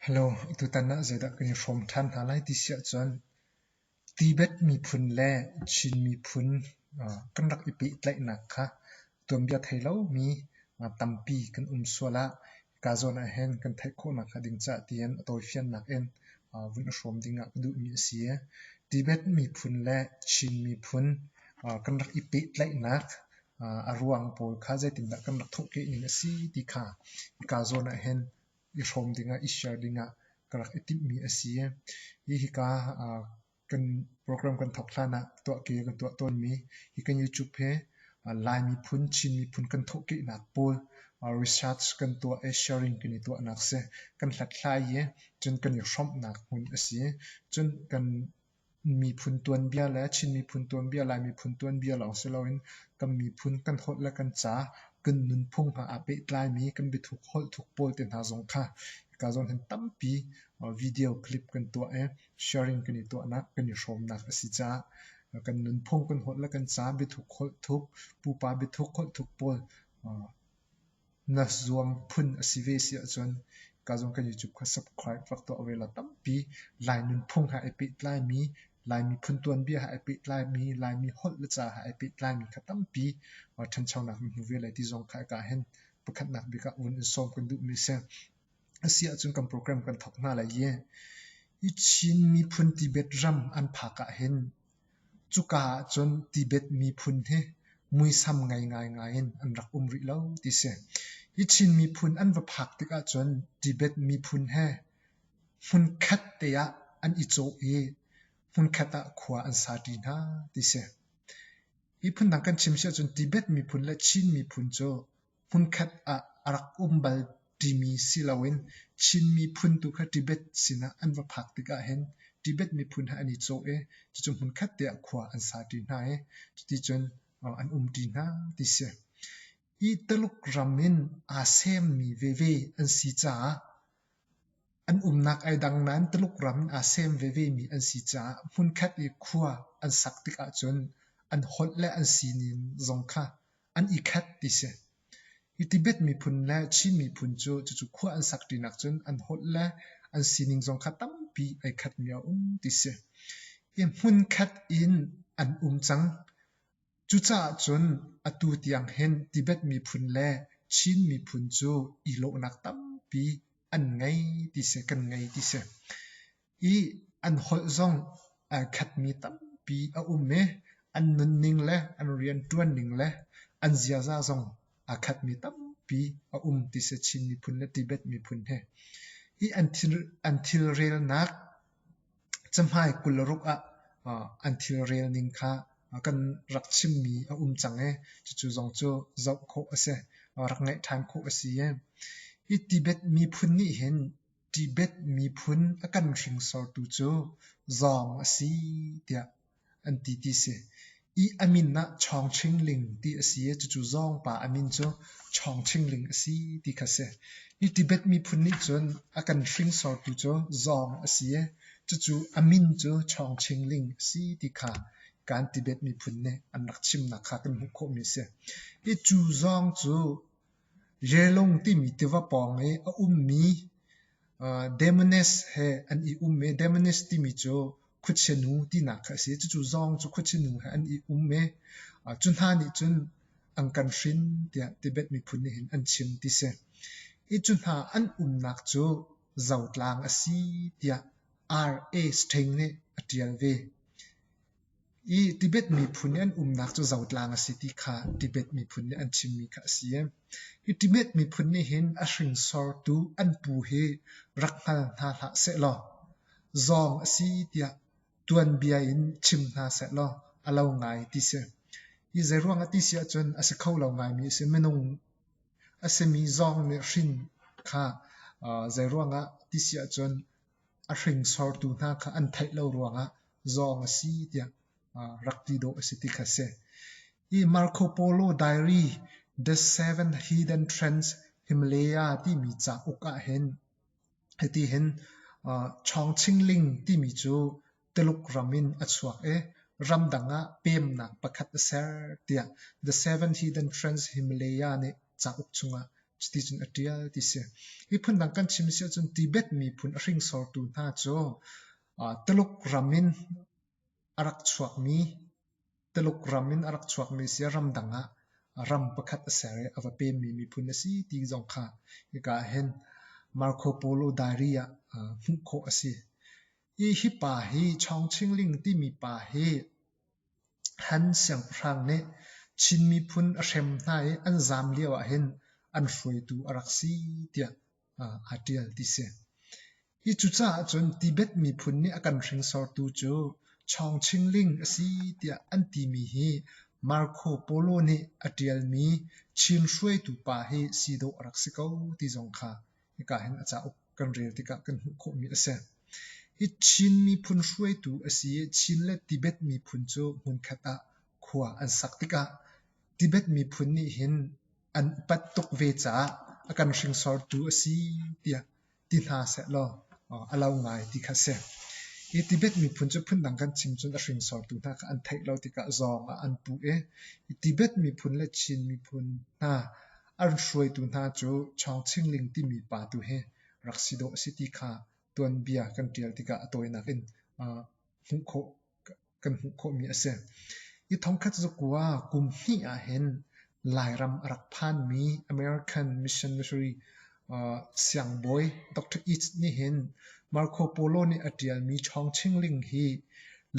Hello, tutan ah zeidah kan i hrawm ṭhan hna lai ti si ahcun Tibet miphun le Chin miphun kan rak i pehtlaihnak kha tuanbia thei lomi tampi kan um sual ah hika zawn ahhin kan theih khawhnak hnga ding caah tiin a tawifiannak in vun i hrawm ding ah ka duhmi a si. Tibet miphun le Chin miphun kan rak i pehtlaihnak a ruang pawl kha zeitindah kan rak thawhkeh ning a si ti kha hika zawn ah hin i hrawm dingah, i share dingah ka rak i timhmi a si. Hi hika kan program kan thawk hlan ah tuahke kan tuah tawnmi hi kan YouTube he Lai miphun, Chin miphun kan thawhkehnak pawl research kan tuah i sharing kan i tuahnak si. Kan hlathlai i cun kan i hrawmhnak hmun a si. Cun kan Miphun tuanbia le Chin miphun tuanbia, Lai miphun tuanbia lawng si loin kan miphun kan holh le kan ca, kan nunphung hna aa pehtlaimi kan biathuk holh thuk pawl te hna zong kha hika zawn hin tampi video clip kan tuah i sharing kan i tuahnak kan i hrawmnak a si caah kan nunphung kan holh le kan ca, biathuk holh thuk, pupa biathuk holh thuk pawl Na zuang phun a si ve si ahcun ka zong kan YouTube kha subscribe rak tuah ve law tampi Lai nunphung he ai pehtlaimi, Lai miphun tuanbia he ai pehtlaimi, Laimi holh le ca he ai pehtlaimi kha tampi ṭhanchonak na hmu ve lai ti zong kha a ka hen. Pakhatnak bik ah vun in sawm kan duhmi a si. A si ahcun kan program kan thawk hna lai i, hi Chin miphun Tibet ram an phak ah hin Cuka ahcun Tibet miphun hi muisam ngei ngaingai in an rak um rih lo ti si. Hi Chin miphun an va phak tikah cun Tibet miphun he hmunkhat te ah an i cawh i hmunkhat ah khua an saṭi hna ti si. Hi phun dang kan chim si ahcun Tibet miphun le Chin miphun cu hmunkhat ah a rak um bal timi si loin Chin miphun tu kha Tibet sinah an va phak tikah hin Tibet miphun he an i cawh i cucu hmunkhat te ah khua an sa ṭi hna i cuti cun an um ṭi hna ti si. Hi Taluk ram in aa semmi veve an si caah an umnak ai dang nain Taluk ram in aa sem vevemi an si caah hmunkhat i khua an sak tik ahcun an holh le an sining zong kha an i khat ti si. Hi Tibet miphun le Chin miphun cu cucu khua an sak ṭinak cun an holh le an sining zong kha tampi ai khatmi a um ti si. Hi hmun khat in an um cang. Cucaah cun atu tiang hin Tibet miphun le Chin miphun cu i lawhnak tampi an ngei ti si, kan ngei ti si. Hi an holh zong ai khatmi tampi a um i an nunning le an rianṭuan ning le an ziaza zong aa khatmi tampi a um ti si Chin miphun le Tibet miphun he. Hi an thil, an thilrelnak cahmai kularuk ah uh, an thilrel ning kha uh, kan rak chimmi a um cang i cucu zong cu zoh khawh a si. Uh, rak ngaih ṭhan khawh a si i hi Tibet miphun nih hin Tibet miphun a kan hringsortu cu zawng a si tiah an ti ti si. I a min ah Chawngchingling ti a si i cucu zawng pa a min cu Chawngchingling a si ti kha si. Hi Tibet miphun nih cun a kan hringsortu cu zawng a si i cucu a min cu Chawngchingling a si ti kha kan Tibet miphun nih an rak chimnak kha kan hmuh khawhmi a si. Hi cu zawng cu Jelung timi tiva pawng i a ummi Demones he an i um i Demones timi cu khuachia-nu tinak kha a si. Cucu zong cu khuachia-nu he an i um i cu hna nih cun an kan hrin tiah Tibet miphun nih hin an chim ti si. Hi cu hna an umnak cu zotlang a si tiah R.A. Sting nih a ṭial ve. I Tibet miphun i an umnak cu zotlang a si ti kha Tibet miphun nih an chimmi kha a si i hi Tibet miphun nih hin a hringsortu an pu hi rak hngal hna hlah sehlaw zawng a si tiah tuanbia in chim hna sehlaw a lo ngai ti si. Hi zeiruang a ti si ahcun a si kho lo ngaimi a si. Minung a simi zawng nih hrin kha zeiruang ah ti si ahcun a hringsortu hna kha an theih lo ruangah zawng a si tiah rak ti dawh a si ti kha a si. Hi Marco Polo Diary The Seven Hidden Trends Himalaya timi cauk ah hin hiti hin Chawngchingling timi cu Tuluk ram in a chuak i ramdang ah peemnak pakhat a ser tiah The Seventh Hidden Friends Himalaya nih cauk chungah cuticun a ṭial ti si. Hi phundang kan chim si ahcun Tibet miphun a hringsortu hna cu Tuluk ram in a rak chuakmi Tuluk ram in a rak chuakmi si ah ramdang ah ram pakhat a ser i a va peemmi miphun a si ti zong kha hika ah hin Marco Polo Diary ah hmuh khawh a si. Hi hi pa hi Chawngchingling timi pa hi Han siangpahrang nih Chin miphun a hrem hna i an zaam lio ahhin an hruaitu a rak si tiah aa ṭial ti si. Hi cucaah cun Tibet miphun nih a kan hringsortu cu Chawngchingling a si tiah an timi hi Marco Polo nih a ṭialmi Chin hruaitu pa hi si dawh a rak si ko ti zong kha hika hin a cauk kan rel tikah kan hmuh khawhmi a si. Hi Chin miphun hruaitu a si i Chin le Tibet miphun cu hmunkhat ah khua an sak tikah Tibet miphun nih hin an upat tuk ve caah a kan hringsortu a si tiah ti hna sehlaw a lau ngai ti kha si. Hi Tibet miphun cu phundang kan chim cun a hringsortu hna kha an theih lo tikah zong ah an puh i Tibet miphun le Chin miphun hna an hruaitu hna cu Chawngchingling timi pa tu hi rak si dawh a si ti kha tuanbia kan ṭial tikah a tawinak in hmuh khawh kan hmuh khawhmi a si. Hi thongkhat zakua kum hnih ahhin Lairam a rak phanmi American missionary siangbawi Dr. East nih hin Marco Polo nih a ṭialmi Chawngchingling hi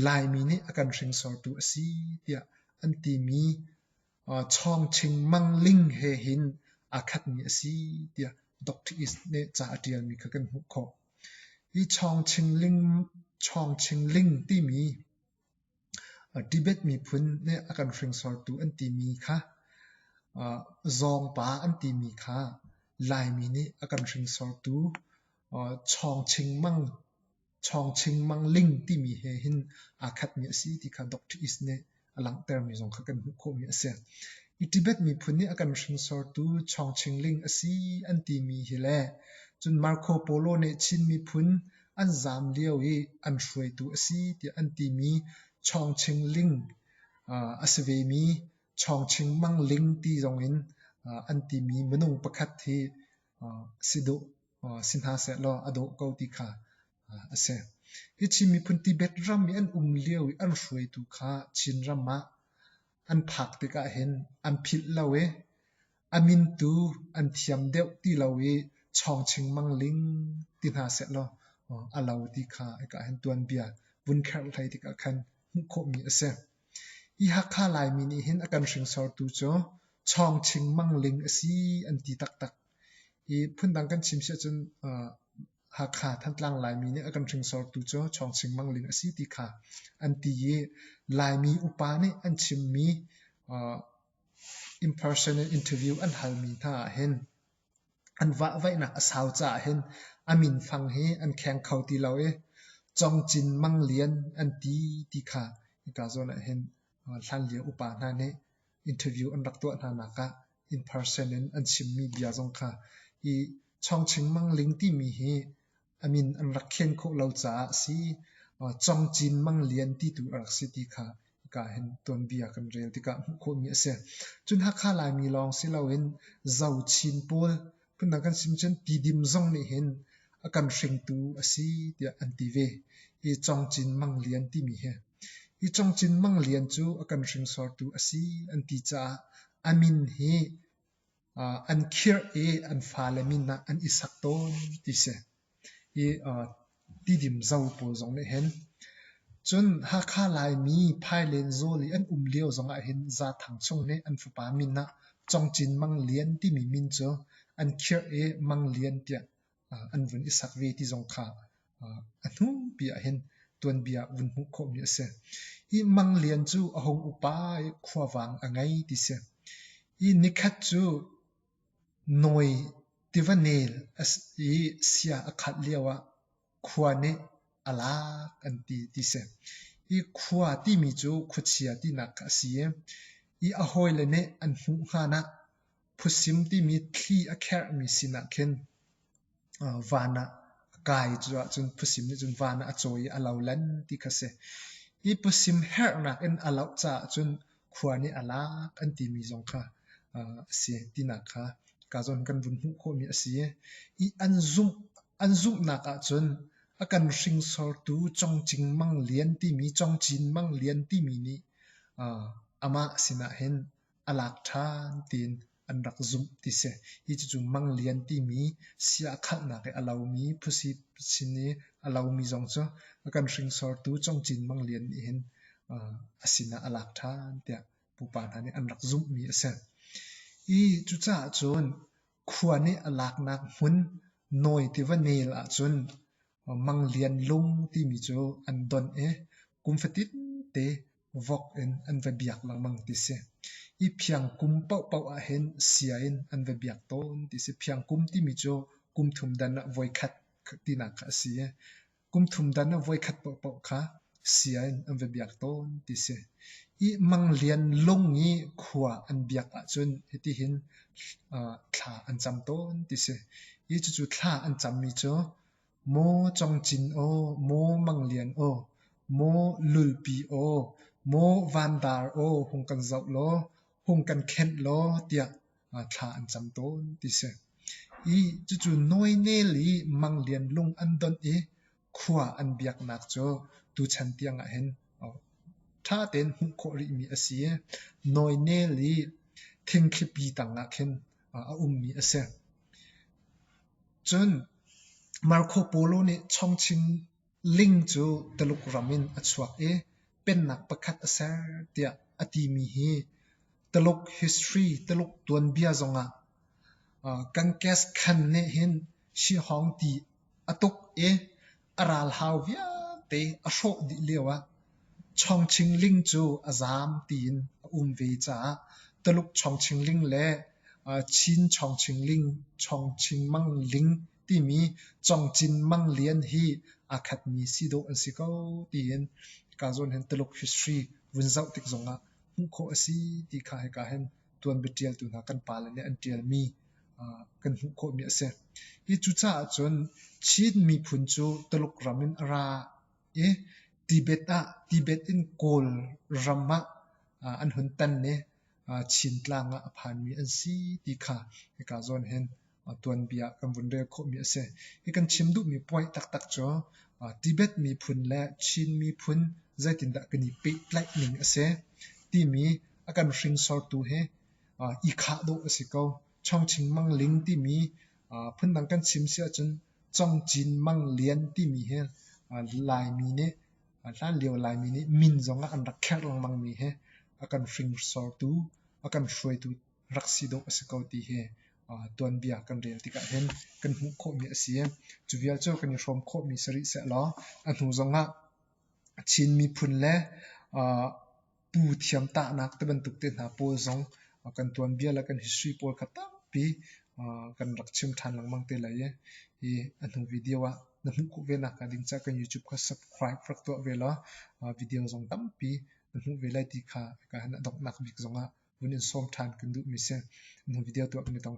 Laimi nih a kan hringsortu a si tiah an timi Chawngching Mang Ling he hin aa khatmi a si tiah Dr. East nih ca a ṭialmi kha kan hmuh khawh. Hi Chawngching Ling, Chawngching Ling timi Tibet miphun nih a kan hringsortu an timi kha zawngpa an timi kha Laimi nih a kan hringsortu Chawngching Mang Chawngching Mang Ling timi he hin aa khatmi a si ti kha Dr. Is nih a langhtermi zong kha kan hmuh khawhmi a si. I Tibet miphun nih a kan hringsortu Chawngching Ling a si an timi hi le cun Marco Polo nih Chin miphun an zaam lio i an hruaitu a si tiah an timi Chawngching Ling uh, a si vemi Chawngching Mang Ling ti zong in uh, an timi minung pakhat hi uh, si duh si hna seh law a dawh ko ti kha a si. Hi Chin miphun Tibet ram i an um lio i an hruaitu kha Chin ram ah an phak tikah hin an philh lo i a mintu an thiam deuh ti lo i chawng chingmang ling ti hna seh law a lo ti kha eka hin tuanbia vun kherh hlei tikah khan hmuh khawhmi a si. Hi Hakha Laimi nih hin a kan hringsortu cu chawng chingmang ling a si an ti taktak Hi phundang kan chim si ahcun Hakha Thantlang Laimi nih a kan hringsortu cu Chawng Sing Mang Ling a si ti kha an ti i Laimi upa nih an chimmi impersonal interview an halmi hna ahhin an vahvaihnak a sau caah hin a minfang hi an kheng kho ti lo i Cong Cin Mang Lian an ti ti kha hika zawn ahhin hlanlio upa hna nih interview an rak tuah hnanak ah in person in an chimmi bia zong kha hi Chawng Ching Mang Ling timi hi a min an rak khen khawh lo caah a si. Chong Cin Mang Lian ti tu a rak si ti kha hika hin tuanbia kan rel tikah hmuh khawhmi a si. Cun Hakha Laimi lawng si loin Zo Chin pawl Phundang kan chim cun tidim zong nih hin a kan hringtu a si tiah an ti ve. Hi Cong Cin Mang Lian timi hi. Hi Cong Cin Mang Lian cu a kan hringsortu a si an ti caah a min hi an khirh i an fale min ah an i sak tawn ti si. Tidim zo pawl zong nih hin cun Hakha Laimi Phailen zawl i an um lio zong ah hin Zaathang chung nih an fapa min ah Cong Cin Mang Lian timi min cu an khirh i Mang Lian tiah an vun i sak ve ti zong kha a hnupi ah hin tuanbia ah vun hmuh khawhmi a si. Hi Mang Lian cu a hung upa i khuavang a ngei ti si. Hi nikhat cu Nawi tiva nel a si i sia a khat lioah khua nih a lak an ti ti si. Hi khua timi cu khuachia tinak a si i, i a hawile nih an hmuh hngan ah phusim timi thli a kherhmi sinah khin van ah a kai cu ahcun pusim nih cun van ah a cawi i a lolen ti kha a si. Hi pusim herhnak in a loh caah cun khua nih a lak an timi zong kha a si tinak kha Kazon kan vun hmuh khawhmi a si i an zumh an zumhnak ahcun a kan hringsortu Congcing Mang Lian timi Congcin Mang Lian timi nih amah sinah hin a lak ṭhan tiin an rak zumh ti si. Hi cucu manglian timi sia a khanghnak i a lomi phusi sin i a lomi zong cu kan hringsortu congcin manglian nih hin a sinah a lak ṭhan tiah pupa hna nih an rak zumhmi a si. Hi cucaah cun khua nih a laknak hmun nawi tiva nel ahcun Mang Lian Lung timi cu an don i kum fatin te vok in an va biak lengmang ti si. I phiangkum paohpaoh ah hin sia in an va biak tawn ti si. Phiangkum timi cu kum thum dan ah voikhat tinak kha a si i kum thum dan ah voikhat paohpaoh kha sian an va biak tawn ti si. Hi Mang Lian Lung i khua an biak ahcun hitihin uh, thla an cam tawn ti si. Hi cucu thla an cammi cu maw Cong Cin aw, maw Mang Lian aw, maw Lulpi aw, maw Van Dar aw hung kan zoh law, hung kan khenh law tiah uh, thla an cam tawn ti si. I cucu Noinel i Mang Lian Lung an don i khua an biaknak cu tuchan tiangah hin ṭha tein hmuh khawh rihmi a si i nawinel i thingthlipi tangah khin a ummi a si. Cun Marco Polo nih chongchin ling cu Taluk ram in a chuak i pennak pakhat a ser tiah a timi hi Taluk history, Taluk tuanbia zongah Kankes Khan nih hin Shi Hong ti a tuk i a ral hau vialte a hrawh dih lioah Chawngchingling cu a zaam tiin a um ve caah Taluk Chawngchingling le Chin Chawngchingling, Chawngchingmang Ling timi Cawngcin Mang Lian hi aa khatmi si dawh an si ko tiin kaa zawn hin Taluk history vun zoh tik zongah hmuh khawh a si ti kha hika hin tuanbia ṭialtu hna kan pale nih an ṭialmi kan hmuh khawhmi a si. Hi cucaah cun Chin miphun cu Tuluk ram in a ra i Tibet ah Tibet in Kawl ram ah an hun tan i Chin tlang ah a phanmi an si ti kha hika zawn hin tuanbia ah kan vun rel khawhmi a si. Hi kan chim duhmi point taktak cu Tibet miphun le Chin miphun zeitindah kan i pehtlaih ning a si timi a kan hringsortu hi i khah dawh a si ko. Chawngching Mang Ling timi phundang kan chim si ahcun Congcin Mang Lian timi hi Laimi nih hlanlio Laimi nih min zong ah an rak kherh lengmangmi hi a kan hringsortu, a kan hruaitu rak si dawh a si ko ti hi tuanbia kan rel tikah hin kan hmuh khawhmi a si. Cu vialte kan i hrawm khawhmi si rih sehlaw a hnu zongah Chin miphun le pu thiamtahnak ti bantuk te hna pawl zong kan tuanbia le kan history pawl kha tampi kan rak chim ṭhan lengmang te lai i hi a hnu video ah na hmuh khawh ve nakhnga ding cah kan YouTube kha subscribe rak tuah ve law video zong tampi na hmuh ve lai ti kha ka donghnak bik zongah vun in sawm ṭhan kan duhmi a si. Na video tuah kan i tong ṭhan.